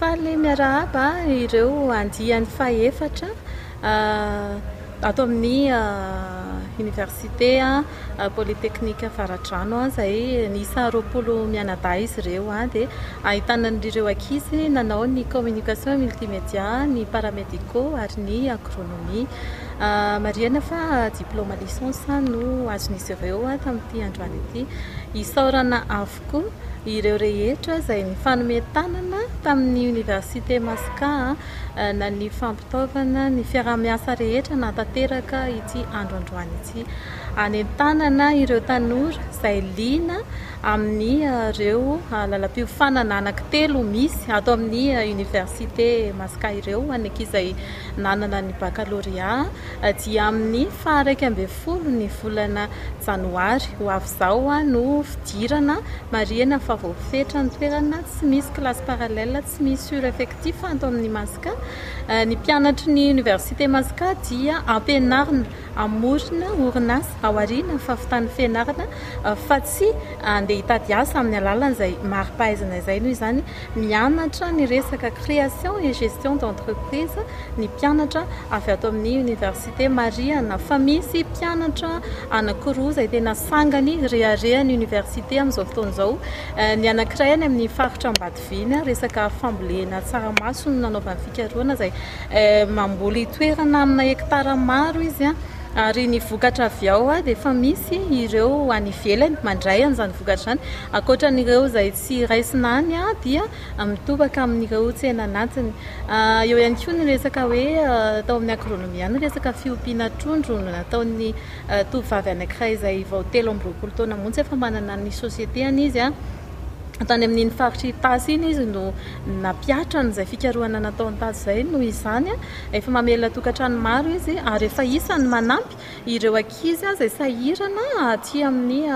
Faly miarahaba ireo andiany fahefatra ato amin'ny Oniversite Polytechnique Avaradrano izay niisa roapolo mianadahy izy ireo. Dia ahitana an'ireo ankizy nanao ny communication multimédia, ny paramédicaux ary ny agronomie. Marihina fa diplôma licence no azon'izy ireo tamin'ity androany ity. Isaorana tokoa ireo rehetra izay nifanome tanana tamin'ny Oniversite Masca nanivo fampitaovana ny fiaraha-miasa rehetra nahatanteraka ity andro androany ity. Anentanana ireo tanora izay liana amin'ny ireo lalam-piofanana anankitelo misy ato amin'ny Oniversite Masca ireo any ankizy izay nanana ny bakalorea dia amin'ny faha iraika ambin'ny folo ny volana janoary ho avy Izao no fidirana, marihina fa voafetra ny toerana, tsy misy classe parallèle, tsy misy sur-effectif ato amin'ny Masca. Ny mpianatry ny Université Masca dia ampianarina hamorona orinasa ao aoriana fahavitan'ny fianarana fa tsy handeha hitady asa amin'ny alalan'izay mari-pahaizana izay. Noho izany, mianatra ny resaka création et gestion d'entreprise ny mpianatra avy ato amin'ny Université. dia marihana fa misy mpianatra anankiroa izay tena sangany reharehan'ny oniversite amin'izao fotoana izao. Ny anankiray any amin'ny faritra Ambatoviana, resaka fambolena tsaramaso no nanaovany fikarohana izay mamboly toerana amina hekitara maro izy ary ny vokatra avy ao dia efa misy ireo any ivelany mandray an'izany vokatra izany. Ankoatra an'ireo izay tsy raisina any dia... mitobaka amin'ireo tsenan'antiny. Eo ihany koa ny resaka hoe tao amin'ny agronomie any resaka fiompiana trondro no nataon'ny tovovavy anankiray izay vao telo amby roapolo taona monja fa manana ny société-any izy. Tany amin'iny faritra Itasy iny izy no nampiatra an'izay fikarohana nataony tato izay noho izany efa mamelona tokantrano maro izy ary efa isan'ny manampy Ireo ankizy izay sahirana aty amin'ny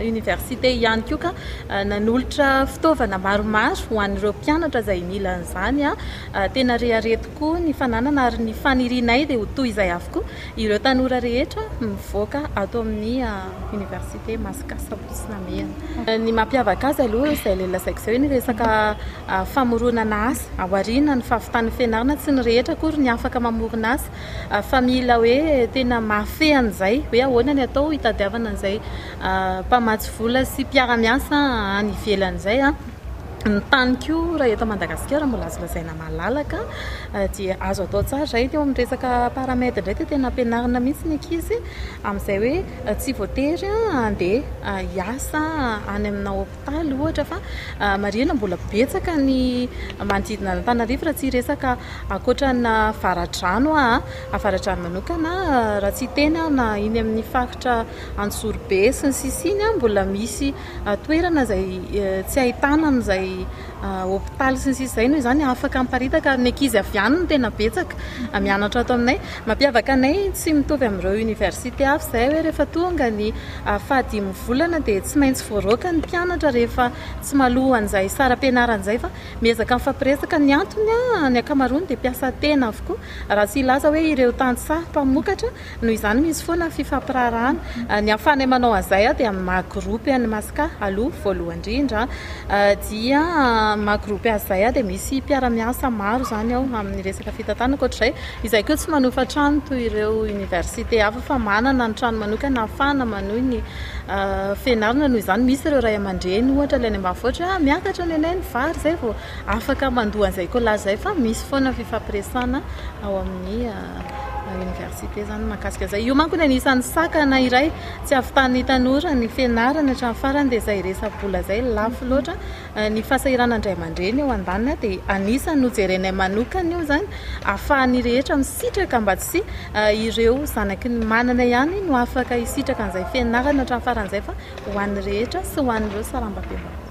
oniversite ihany koa ka nanolotra fitaovana maromaro ho an'ireo mpianatra izay mila an'izany. Tena rehareha tokoa ny fananana ary ny fanirianay dia ho toy izay avokoa ireo tanora rehetra mivoaka ato amin'ny oniversite Masikasa Ampitso Namehana. Ny mampiavaka azy aloha izay le lazaiko izay ny resaka famoronana asa, ao aoriana ny fahavitan'ny fianarana, tsy ny rehetra akory ny afaka mamorona asa Fa mila hoe tena mahafehy an'izay hoe ahoana ny atao hitadiavana an'izay mpamatsy vola sy mpiara-miasa any ivelany izay. Ny tany koa raha eto Madagasikara mbola azo lazaina malalaka dia azo atao tsara izay. Teo amin'ny resaka Paramed indray dia tena ampianarina mihitsy ny ankizy amin'izay hoe tsy voatery handeha hiasa any aminà. Faly ohatra fa marihina mbola betsaka ny manodidina an'Antananarivo raha tsy hiresaka ankoatra ny avaradrano aho, avaradrano manokana raha tsy hiteny aho na iny amin'ny faritra Antsorobe sy ny sisiny mbola misy toerana izay tsy ahitana an'izay hopitaly sy ny sisa izay noho izany afaka miparitaka ary ny ankizy avy any no tena betsaka mianatra ato aminay. Mampiavaka anay tsy mitovy amin'ireo oniversite hafa izay hoe rehefa tonga ny fahadimy volana dia tsy maintsy voaroaka ny mpianatra rehefa tsy maloha an'izay saram-pianarana izay fa miezaka mifampiresaka. Ny antony, ny ankamaroany dia mpiasa tena avokoa raha tsy hilaza hoe ireo tantsaha mpamokatra. Noho izany misy foana fifampiraharahana. Ny ahafahanay manao an'izay aho dia amin'ny maha groupe an'i Masca aloha voalohany indrindra dia maha groupe azy izay aho dia misy mpiara-miasa maro izany ao amin'ny resaka fitantanana. Ankoatr'izay, izahay koa tsy manofa trano toy ireo université hafa fa manana ny trano manokana ahafahana manohy ny fianarana. Noho izany misy ireo ray aman-dreny ohatra ilay any ambanivohitra hoe ah miakatra nenay ny vary izay vao afaka mandoa an'izay collage izay fa misy foana ny fifampiresahana ao amin'ny Université zany mahakasika izay. Io manko ny anisan'ny sakana iray tsy avitan'ny tanora ny fianarana hatramin'ny farany dia izay resa-bola izay lafo loatra. Eh, ny fahasahiranana indray aman-dreny eo andaniny dia anisan'ny nojerenay manokana io izany afahan'ny rehetra misitraka mba tsy eh, ireo zanaky ny manana ihany no afaka hisitraka an'izay fianarana hatramin'ny farany izay fa ho an'ny rehetra sy ho an'ireo sarambabem-bahoaka.